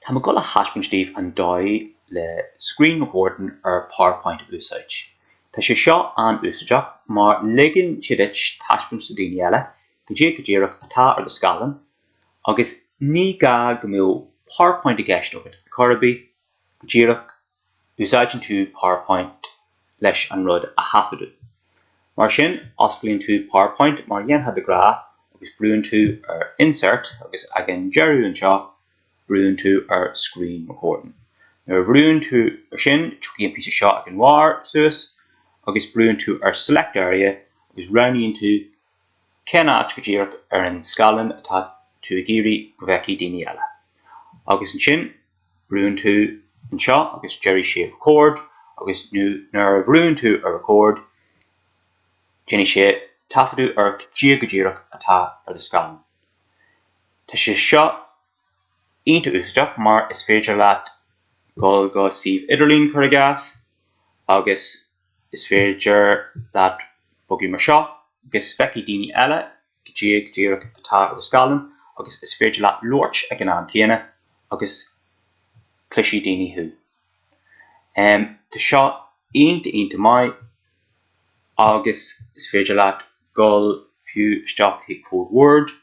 Tá mé ag dul a thaispeáint daoibh an dóigh le Screen Recording ar PowerPoint a úsáid. Tá sé seo an-úsáideach mar ligeann sé duit taispeáint do dhaoine eile cad é go díreach atá ar do scáileán agus ní gá go mbeadh PowerPoint i gceist agat ar chor ar bith, go díreach úsáideann tú PowerPoint leis an rud a thaifeadadh. Mar sin, osclaíonn tú PowerPoint mar a dhéanfá de ghnáth agus brúnn tú ar Insert agus ag an deireadh anseo, brúnn tú ar Screen Recording. Nuair a bhrúnn tú ar sin, tiocfaidh an píosa seo ag an bharr suas agus brúnn tú ar Select Area agus roghnaíonn tú cén áit go díreach ar an scáileán atá tú ag iarraidh go bhfeicfidh daoine eile agus ansin Brúnn tú anseo agus déarfaidh sé record agus nuair a bhrúnn tú ar record déanfaidh sé taifeadadh ar cad é go díreach atá ar do scáileán. Tá sé seo iontach úsáideach mar is féidir leat dul go suíomh idirlín cuir i gcás agus is féidir leat bogadh mar seo agus feicfidh daoine eile Cad é go díreach atá ar do scáileán agus is féidir leat labhairt ag an am céanna agus cloisfidh daoine thú. Tá seo iontach iontach maith agus is féidir leat dul fiú isteach chuig comhad Word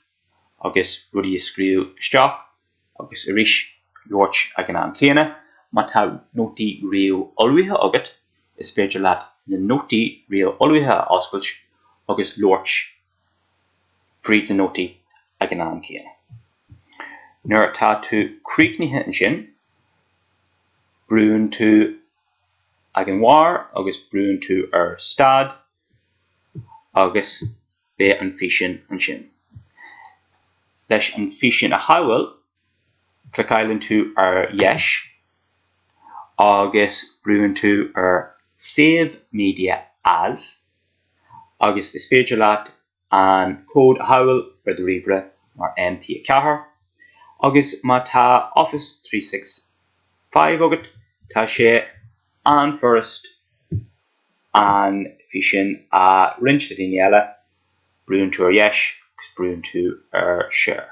agus rudaí a scríobh isteach. agus arís labhairt ag an am céanna. Má tá nótaí réamhullmhaithe agat, is féidir leat na nótaí réamhullmhaithe a oscailt agus labhairt fríd na nótaí ag an am céanna. Nuair atá tú críochnaithe ansin, brúnn tú ag an bharr agus brúnn tú ar Stad agus beidh an físeán ansin. Leis an físeán a shábháil, cliceáileann tú ar dheis agus brúnn tú ar Save Media As agus is féidir leat an comhad a shábháil ar do ríomhaire mar MP4 agus má tá Office three six five agat tá sé an-fhurast an físeán a roinnt le daoine eile, brúnn tú ar dheis agus brúnn tú ar Share.